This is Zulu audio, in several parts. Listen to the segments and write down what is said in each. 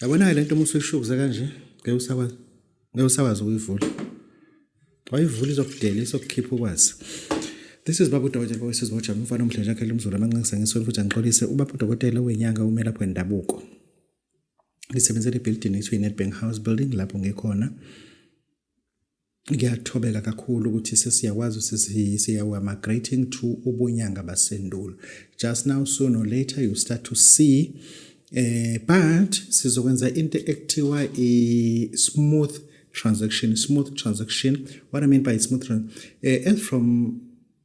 Yabona-ke le nto uma usuyishukuza kanje ngeke usakwazi ngeke usakwazi ukuyivula wayivula izokudela izokukhipha ukwazi This is Babu Dokotela Boyces Watch umfana omdlanje akhe lomzulu amanxenxe ngisolo futhi angixolise uBabu Dokotela wenyanga ume lapho endabuko ngisebenzela ibuilding ethiwa iNedbank House Building lapho ngikhona ngiyathobela kakhulu ukuthi sesiyakwazi ukuthi siya we are migrating to ubunyanga basendulo just now soon or later you start to see eh but sizokwenza into ekuthiwa i smooth transaction smooth transaction what i mean by smooth eh, as from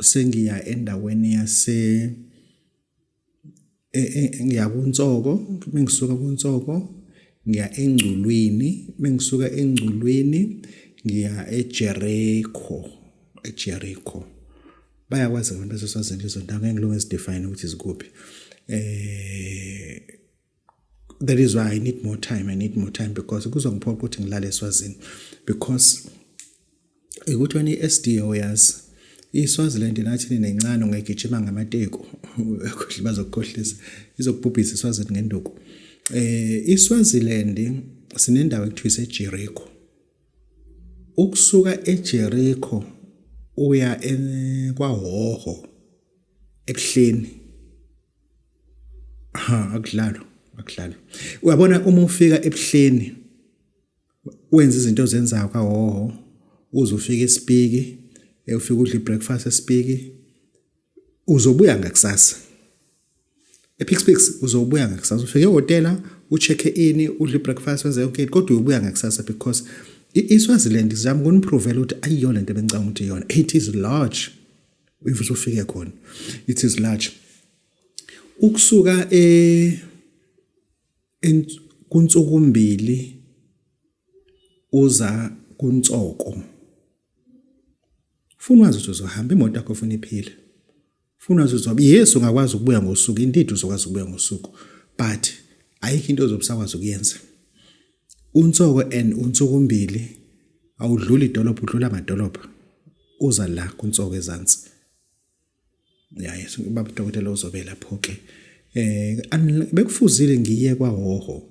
sengiya endaweni yase e, e, ngiya kuNtsoko bengisuka kuNtsoko ngiya engculwini bengisuka engculwini ngiya eJericho eJericho bayakwazi abantu baseswazini lezo ndawo ngeke ngilunge zidefine ukuthi zikuphi eh that is why i need more time i need more time because kuzongiphoqa ukuthi ngilale eswazini because ukuthi wena i-sdo yazi iswaziland nathini nencane ungayigijima ngamateku bazokukhohlisa izokubhubhisa iswazini ngenduku eh iswaziland sinendawo ekuthiwa isejeriko ukusuka ejeriko uya kwahoho ebuhleni ha akudlalo akudlalo uyabona uma ufika ebuhleni wenza izinto ozenzayo kahoho uze ufike esipiki ufike udle breakfast esipiki uzobuya ngakusasa ePixpix uzobuya ngakusasa ufike ehhotela ucheck-e ini udle ibreakfast wenze yonke into kodwa uyobuya ngakusasa because iswaziland zizama ukuniprovela ukuthi ayiyona into ebengicanga ukuthi iyona it is large if usufike khona it is large ukusuka e kunsukumbili uza kuntsoko funa wazi ukuthi uzohamba imoto yakho funa iphile Funa uzozwa yes ungakwazi ukubuya ngosuku indeed uzokwazi ukubuya ngosuku but ayikho into ozobusakwazi ukuyenza unsoko and unsokumbili awudluli idolopha udlula amadolopha uza la kunsoko ezansi yaye baba dokotela uzobe lapho ke eh bekufuzile ngiye kwahoho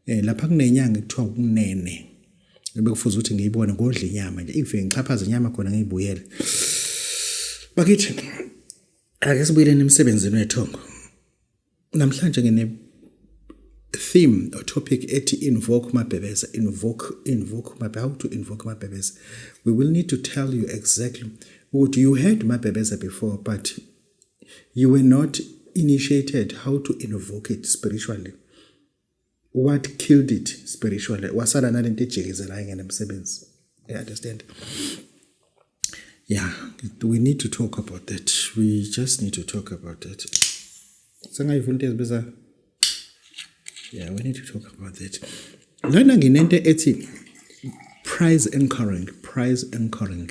eh lapha kunenyanga kuthiwa kunene bekufuze ukuthi ngiyibone ngodla inyama nje ingifike ngixhaphaze inyama khona ngiyibuyele bakithi ake sibuyeleni emsebenzini wethongo namhlanje ngine theme or topic ethi invoke mabhebeza invoke invoke mabhebeza how to invoke mabhebeza we will need to tell you exactly ukuthi you had mabhebeza before but you were not initiated how to invoke it spiritually what killed it spiritually wasala nalento ejikizela ingene emsebenzi you understand yeah we need to talk about that we just need to talk about that sengayivula into ezibiza yeah we need to talk about that lana nginento ethi prize anchoring prize anchoring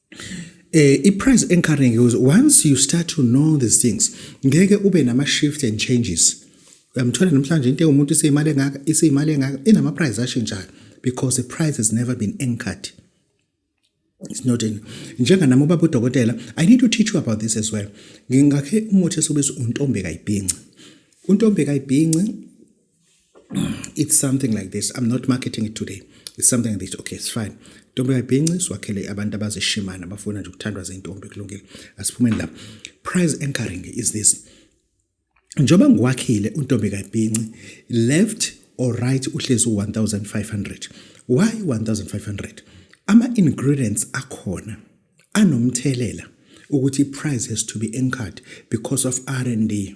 Eh, i-price anchoring is once you start to know these things ngeke ube nama-shift and changes uyamthola namhlanje into ewumuntu iseyimali engaka iseyimali engaka inama-price ashintshayo because the price has never been anchored It's not in. Njenganami ubaba udokotela, I need to teach you about this as well. Ngingakhe umuthi esibiza untombe kayibhinci. Untombe kayibhinci it's something like this i'm not marketing it today it's something like this okay it's fine ntombi kayibhinci siwakhele abantu abazishimana abafuna nje ukuthandwa zintombi kulungile asiphumeni lapho prize anchoring is this njengoba ngiwakhile untombi kayibhinci left or right uhlezi u-1500 why 1500 ama-ingredients akhona anomthelela ukuthi i-price has to be anchored because of r and d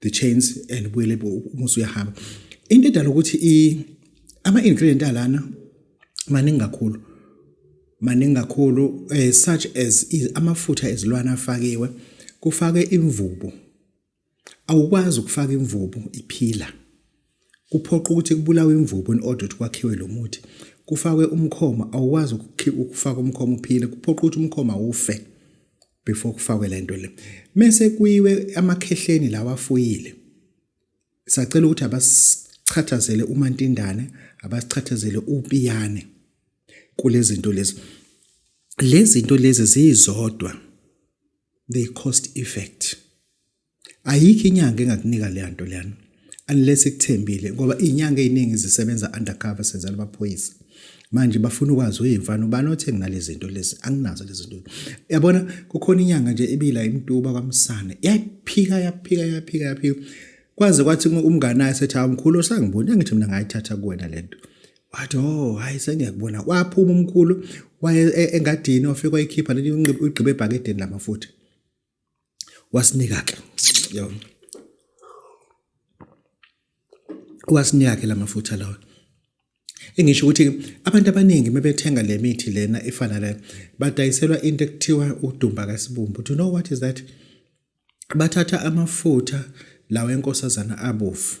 the chains and buyele umusi uyahamba into edala ukuthi i ama ingredient alana maningi kakhulu maningi kakhulu eh, such as amafutha ezilwane afakiwe kufake imvubu awukwazi ukufaka imvubu iphila kuphoqa ukuthi kubulawe imvubu in order ukuthi kwakhiwe lo muthi kufakwe umkhoma awukwazi ukufaka umkhoma uphile kuphoqa ukuthi umkhoma ufe before kufakwe le nto le mese kuyiwe amakhehleni lawa afuyile sacela ukuthi abasichathazele umantindane abasichathazele upiyane kulezinto lezi lezinto lezi zizodwa they cost effect ayikho inyanga engakunika leya nto leyana unless ikuthembile ngoba iy'nyanga ey'ningi zisebenza undercover senzela amaphoyisa manje bafuna ukwazi uyimfana ubani othe nginalezi zinto lezi anginazo lezi zinto yabona kukhona inyanga nje ibila imtuba kwamsane yaphika yaphika yaphika yaphika kwaze kwathi umngane ayi sethi awumkhulu osangiboni angithi mina ngayithatha kuwena lento wathi oh hayi sengiyakubona kwaphuma umkhulu waye e, engadini ofika wayikhipha leli ugqibe ebhakedeni lamafuthi wasinika ke yona wasinika ke lamafutha lawa engisho ukuthi abantu abaningi mebethenga le mithi lena efana la badayiselwa into ekuthiwa udumba kasibumbu do you know what is that bathatha amafutha lawa enkosazana abofu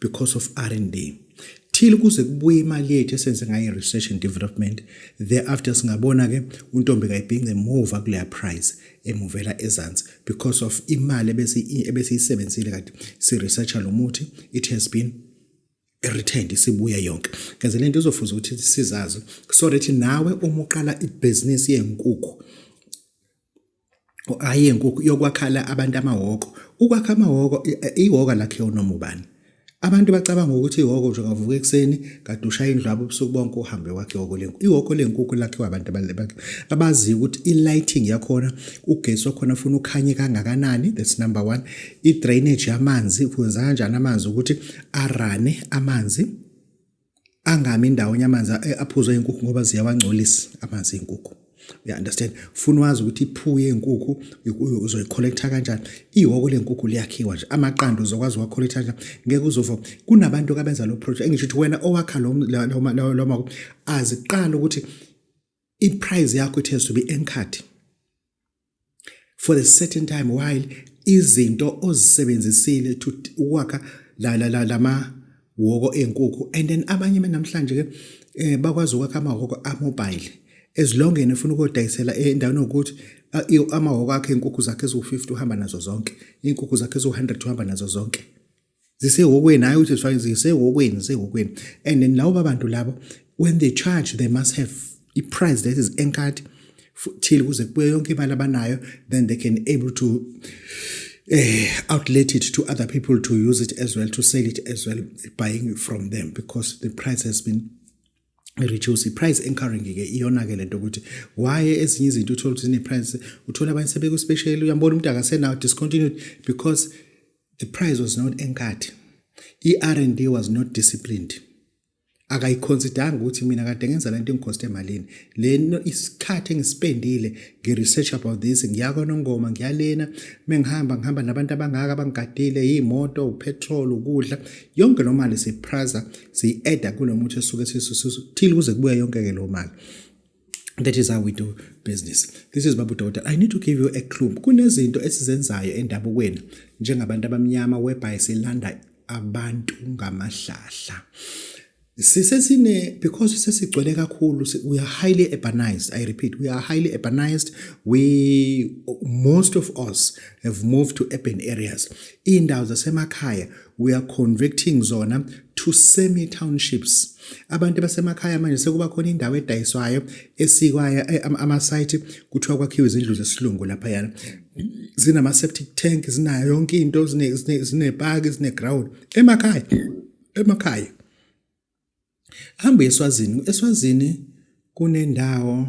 because of R&D till kuze kubuye imali yethu esenze ngayo research and development thereafter singabona ke untombi kayibhince move kuleya price emuvela ezansi because of imali ebese ebesiyisebenzile kade si researcher lo muthi it has been returned isibuye yonke ngeze lento izofuza ukuthi sizazi so that nawe uma uqala ibhizinisi yenkukhu hhayi yenkukhu yokwakhala abantu amahhoko ukwakha amahhoko ihhoka lakhiwa unoma ubani abantu bacabanga ukuthi ihhoko nje ungavuka ekuseni kade ushaya indlu abo ubusuku bonke uhambe wakhe ihhoko lenkukhu ihhoko lenkukhu lakhiwa abantu abaziyo ukuthi i-lighting yakhona ugesi wakhona funa ukhanye kangakanani that's number one i-drainage yamanzi kwenza kanjani amanzi ukuthi arane amanzi angami indawonye amanzi aphuzwa inkukhu ngoba ziyawangcolisa amanzi enkukhu you understand funa wazi ukuthi iphuke yenkukhu uzoyicollecta kanjani ihoko lenkukhu liyakhiwa nje amaqanda uzokwazi uwacollecta kanjani ngeke uzova kunabantu abenza lo project engisho ukuthi wena owakha lo lo aziqala ukuthi i price yakho it has to be enkhadi for a certain time while izinto ozisebenzisile to ukwakha la la la lama woko enkukhu and then abanye namhlanje ke eh, bakwazi ukwakha amahoko amobile as long and ufuna ukodayisela endaweni yokuthi amahoko akhe inkukhu zakhe eziwu-50 uhamba nazo zonke inkukhu zakhe eziwu-100 uhamba nazo zonke zisehokweni hayi ukuthi zifake zisehokweni zisehokweni and then lawo babantu labo when they charge they must have a price that is anchored till kuze kubuye yonke imali abanayo then they can able to eh, outlet it to other people to use it as well to sell it as well buying from them because the price has been reduce price anchoring ke iyona ke lento ukuthi why ezinye izinto uthola ukuthi zine price uthola abanye sebekuspecial uyambona umuntu akasenawo discontinued because The prize was not enkathi. I-R&D was not disciplined. akayiconsidanga ukuthi mina kade ngenza lento engikhoste emalini leno isikhathi engisipendile ngiresearch about this ngiya konongoma ngiyalena mengihamba ngihamba nabantu abangaka abangigadile iyimoto upetrol ukudla yonke lo mali sipraza siyi-adda kulo muthi esuke sithile kuze kubuya yonke-ke lo mali That is how we do business. This is Babu Daughter. I need to give you a clue. Kunezinto esizenzayo endabukweni njengabantu abamnyama whereby silanda abantu ngamahlahla. sisesine because sesigcwele kakhulu we are highly urbanized i repeat we are highly urbanized we most of us have moved to urban areas indawo zasemakhaya we are converting zona to semi townships abantu basemakhaya manje sekuba khona indawo edayiswayo esikwayo eh, ama site kuthiwa kwakhiwe izindlu zesilungu lapha yana zinama septic tank zinayo yonke into zine zine park zine ground emakhaya emakhaya hamba eswazini eswazini kunendawo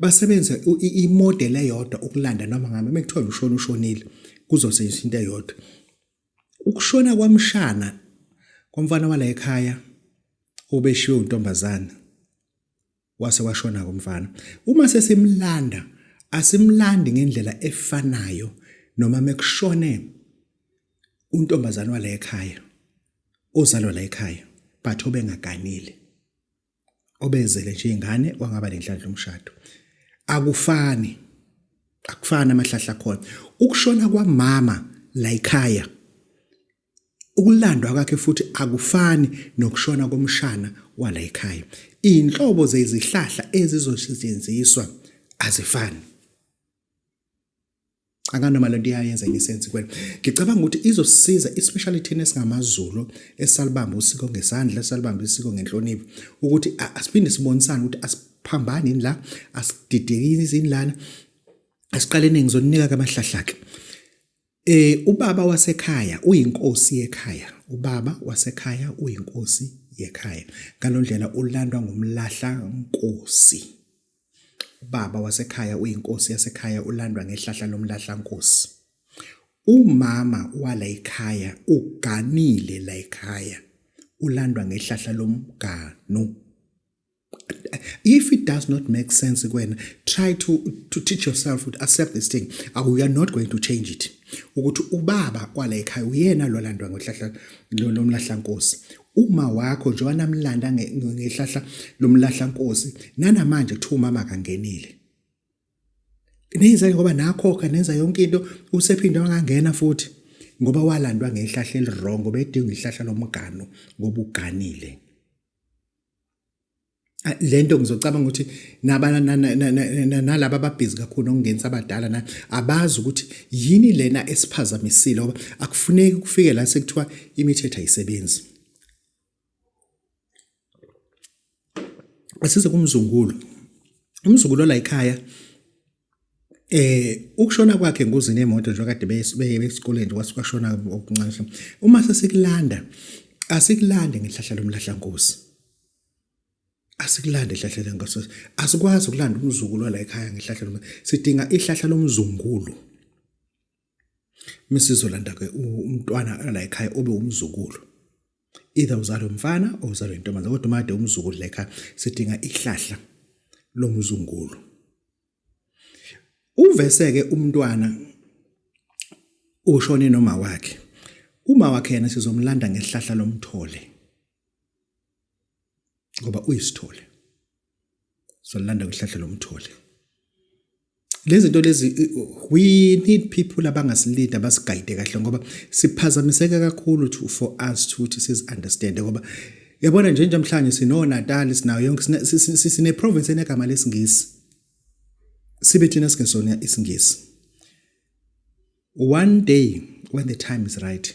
basebenzisa imodeli eyodwa ukulanda noma ngabe mekuthiwa ushona ushonile kuzosetshenziswa into eyodwa ukushona kwamshana komfana wala ekhaya obeshiwe untombazana wase washona komfana uma sesimlanda asimlandi ngendlela efanayo noma mekushone untombazana wala ekhaya ozalwa la ekhaya but obengaganile obezele nje ingane wangaba lenhlanhla umshado akufani akufani amahlahla khona ukushona kwamama la ekhaya ukulandwa kwakhe futhi akufani nokushona komshana wala ekhaya inhlobo zezihlahla ezizosetshenziswa azifani akanoma lento iyayenza enye sense kwena ngicabanga ukuthi izosiza especially thina esingamaZulu esalibamba usiko ngesandla salibamba isiko ngenhlonipho ukuthi asiphinde sibonisane ukuthi asiphambani la asididekini izinlana asiqalene ngizoninika kamahlahlake eh ubaba wasekhaya uyinkosi yekhaya ubaba wasekhaya uyinkosi yekhaya ngalondlela ulandwa ngumlahla nkosi Ubaba wasekhaya uyinkosi yasekhaya ulandwa ngehlahla lomlahlankosi. Umama wala ekhaya uganile la ekhaya ulandwa ngehlahla lomganu. If it does not make sense kuwena try to to teach yourself to accept this thing. We are not going to change it. Ukuthi ubaba kwala ekhaya uyena lolandwa ngohlahla lomlahlankosi. uma wakho nje wanamlanda ngehlahla lomlahla nkosi nanamanje kuthiwa umama kangenile nenza ngoba nakhokha nenza yonke into usephinde wangangena futhi ngoba walandwa ngehlahla elirongo bedinga ihlahla lomgano ngoba uganile lento ngizocabanga ukuthi nalaba ababhizi kakhulu nokungenisa abadala na abazi ukuthi yini lena esiphazamisile ngoba akufuneki kufike la sekuthiwa imithetho ayisebenzi asize kumzungulo umzungulo la ekhaya eh ukushona kwakhe engozini yemoto nje kade beyesikoleni kwasikwashona okuncane uma sesikulanda asikulande ngehlahla lomlahla nkosi asikulande ihlahla lengasese asikwazi ukulanda umzukulu wala ekhaya ngehlahla lomzukulu sidinga ihlahla lomzungulu misizolanda ke umntwana la ekhaya obe umzukulu either uzalwe umfana or uzalwe intombazane kodwa made umzukulu la ekhaya sidinga ihlahla lomzungulu uvese ke umntwana ushone noma wakhe uma wakhe yena sizomlanda ngehlahla lomthole ngoba uyisithole solanda kuhlahla lomthole lezinto lezi we need people abangasilida basigayide kahle ngoba siphazamiseka kakhulu to for us to ukuthi sizi understand ngoba yabona nje njamhlanje sino Natal sinayo yonke sine province enegama lesingisi sibe thina singesona isingisi one day when the time is right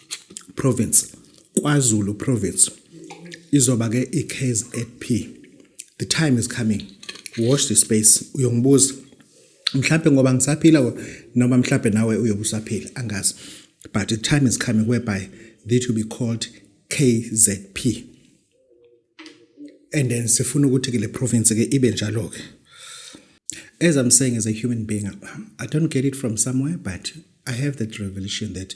province KwaZulu province izoba ke iKZP the time is coming watch the space uyongibuza mhlawumbe ngoba ngisaphila noma mhlawumbe nawe uyobe usaphila angazi but the time is coming whereby that will be called KZP and then sifuna ukuthi ke le province ke ibe njalo ke as i'm saying as a human being i don't get it from somewhere but i have that revelation that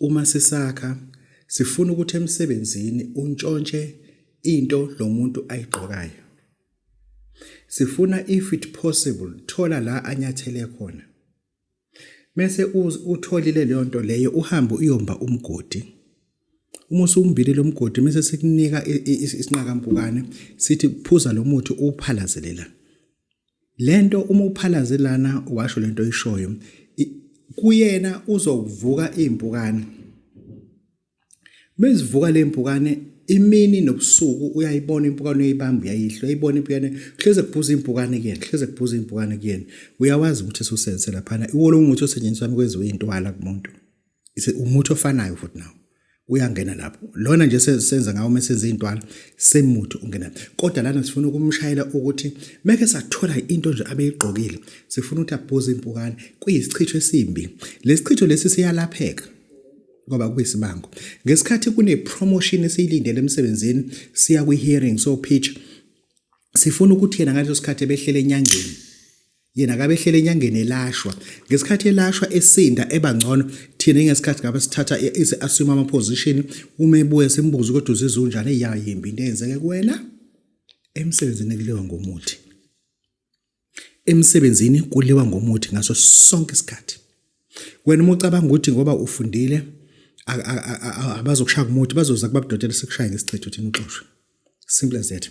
Uma sisakha, sifuna ukuthi emsebenzini untshontshe into lo muntu ayigqokayo. Sifuna if it possible thola la anyathele khona. Mese utholile leyo nto leyo uhambe uyomba umgodi. Uma usumbile lo mgodi mese sikunika isinqakampukane sithi phuza lo muthi uphalazelela. Lento uma uphalaze lana washo lento oyishoyo kuyena uzokuvuka impukane. Mezivuka lempukane imini nobusuku uyayibona impukane uyayibamba uyayihla uyayibona impukane hleze kubhuza impukane kuyena hleze kubhuza impukane kuyena uyawazi ukuthi esusense laphana iwolo umuthi osetshenziswa kwenziwe intwala kumuntu. Ise umuthi ofanayo futhi nawo uyangena lapho lona nje senza ngawo uma senza izintwana semuthi ungena kodwa lana sifuna ukumshayela ukuthi meke sathola into nje abeyigqokile sifuna ukuthi abhuze impukane kuyisichitho esimbi lesichitho lesi siyalapheka ngoba kuyisibango ngesikhathi kune promotion esiyilindele emsebenzini siya kwi hearing so pitch sifuna ukuthi yena ngaleso sikhathi ebehlele enyangeni yena kabe ehlele enyangeni elashwa ngesikhathi elashwa esinda eba ngcono thina ingesikhathi ngabe sithatha ize assume ama position uma ebuye simbuze ukuthi uzizwa unjani eyayimbi into eyenzeke kuwena emsebenzini kuliwa ngomuthi emsebenzini kuliwa ngomuthi ngaso sonke isikhathi wena uma ucabanga ukuthi ngoba ufundile abazokushaya umuthi bazoza kubabudotela sekushaya ngesichitho thina uxoshwe simple as that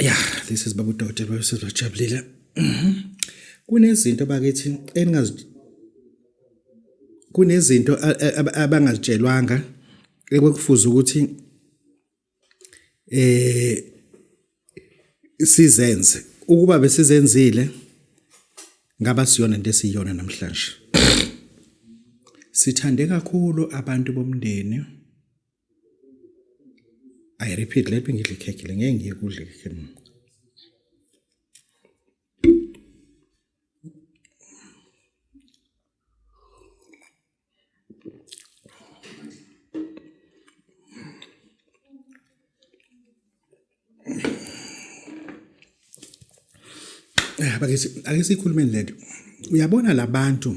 Yeah, this is Babu Dote, Babu Sizwa Jabulile. Mhm. Kunezinto bakithi eningaz kunezinto abangazitshelwanga ekwekufuza ukuthi eh sizenze ukuba besizenzile ngaba siyona into esiyona namhlanje sithande kakhulu abantu bomndeni I repeat, let me ngidle ikhekhe le ngeke ngiye kudla ikhekhe mina. Eh, Bakithi ake sikhulumeni lento. Uyabona labantu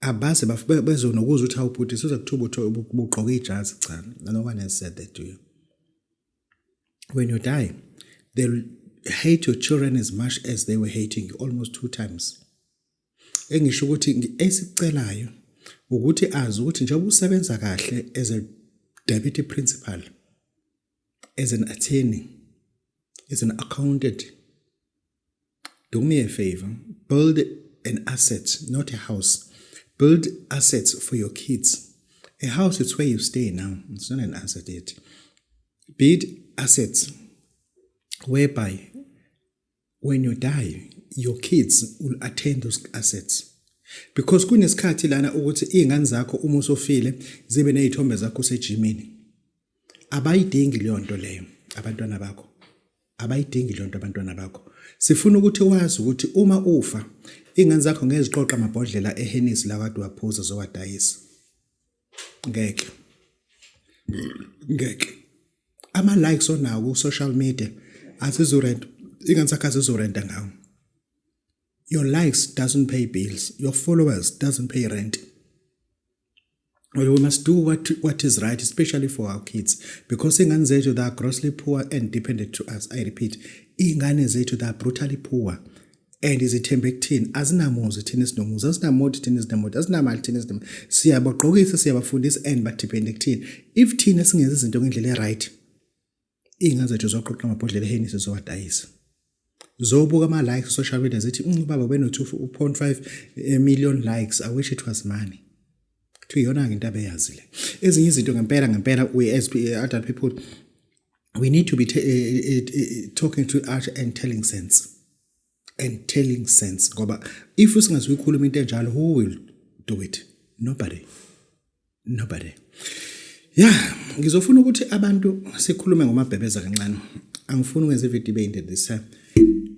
abaze bezonokuza ukuthi awubhuti suza kuthuba uthi ubugqoke ijazi cha no one has said that to you when you die they'll hate your children as much as they were hating you almost two times engisho ukuthi esicelayo ukuthi azi ukuthi njengoba usebenza kahle as a deputy principal as an attorney as an accountant do me a favor build an asset not a house build assets for your kids a house is where you stay now it's not an asset yet build assets whereby when you die your kids will attend those assets because kunesikhathi lana ukuthi izingane zakho uma usofile zibe nezithombe zakho sejimini abayidingi leyo nto leyo abantwana bakho Abayidingi le nto abantwana bakho. Sifuna ukuthi wazi ukuthi uma ufa, iy'ngane zakho ngeke ziqoqe amabhodlela ehenisi lawa kade uwaphuza zowadayisa. Ngeke. Ngeke. Ama-likes onawo ku-social media azizurent iy'ngane zakho azizurenta ngawo. Your likes doesn't pay bills. Your followers doesn't pay rent. Well, we must do what, what is right, especially for our kids, because ingane zethu they are grossly poor and dependent to us. I repeat, ingane zethu they are brutally poor and izithembe kuthini azinamuzi thina esinomuzi azinamoti thina ezinemoti azinamali thina ezinemali siyabagqokisa siyabafundisa and badepende kuthina if thina singenza izinto ngendlela e-right Iy'ngane zethu zoqoqa amabhodlela ehenisi zowadayisa. Zobuka ama-likes social media zithi mm, ubaba ubeno-two point five eh, million likes, I wish it was money. Kuthiwa iyona-ke into abeyazi le. Ezinye izinto ngempela ngempela we as eh, adult people we need to be eh, talking to art and telling sense. and telling sense ngoba if singazuyikhuluma into enjalo who will do it nobody nobody ya ngizofuna ukuthi abantu sikhulume ngomabhebeza kancane angifuni ukwenza ividiyo ibe into this time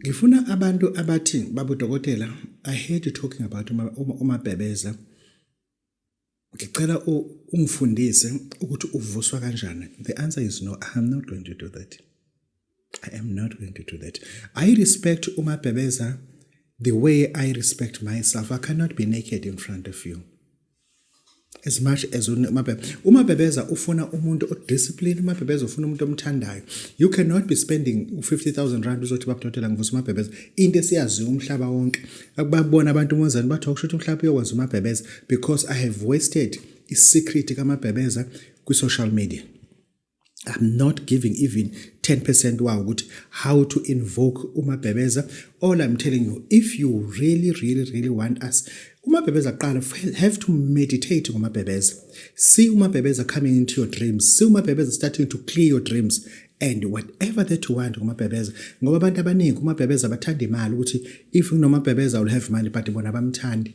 ngifuna abantu abathi babudokotela i hate you talking about umabhebeza Ngicela ungifundise ukuthi uvuswa kanjani. The answer is no, I'm not going to do that. I am not going to do that. I respect Umabhebeza the way I respect myself. I cannot be naked in front of you. As much as Umabhebeza. Umabhebeza ufuna umuntu odiscipline, Umabhebeza ufuna umuntu omthandayo. You cannot be spending 50,000 rand uzothi babudodela ngivusa Umabhebeza. Into esiyaziyo umhlaba wonke. akubabona abantu umozani bathi okusho ukuthi mhlawumbe uyokwenza umabhebeza because i have wasted isecret kamabhebeza kwi-social media I'm not giving even 10% wawo ukuthi how to invoke umabhebeza all I'm telling you if you really really really want us umabhebeza kuqala have to meditate ngomabhebeza see umabhebeza coming into your dreams see umabhebeza starting to clear your dreams and whatever that you want kumabhebeza ngoba abantu abaningi kumabhebeza bathanda imali ukuthi if unomabhebeza will have money but bona bamthandi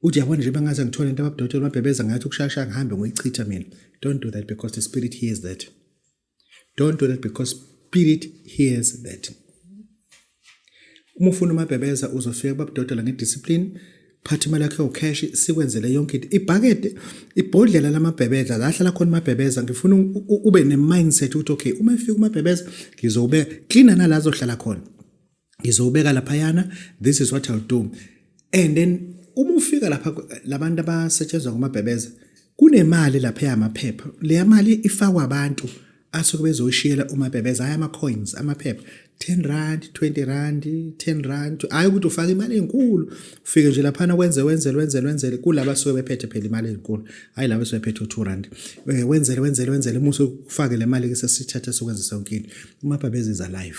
uthi yabona nje bangaze ngithole into ababudotshela umabhebeza ngathi ukushasha ngihambe ngoyichitha mina don't do that because the spirit hears that don't do that because spirit hears that Uma ufuna umabhebeza uzofika babudodela ngediscipline phatha imali yakho cash sikwenzele yonke into ibhakede ibhodlela lamabhebeza la hlala khona amabhebeza ngifuna ube ne mindset ukuthi okay uma efika umabhebeza ngizobe clean nala azohlala khona ngizobeka lapha yana this is what i'll do and then uma ufika lapha labantu abasetshenzwa ngomabhebeza kunemali lapha yamaphepha leya mali ifakwa abantu asuke bezoshiyela umabhebeza hayi ama-coins amaphepha 10 rand 20 rand 10 rand hhayi ukuthi ufake imali enkulu ufike nje laphana wenze wenzele wenzele wenzele kulaba asuke bephethe phela imali enkulu hhayi laba asuke bephethe u-2 rand eh, wenzele wenzele wenzele uma usufake le mali-ke sesithatha sokwenza sonke into umabhabeza is alive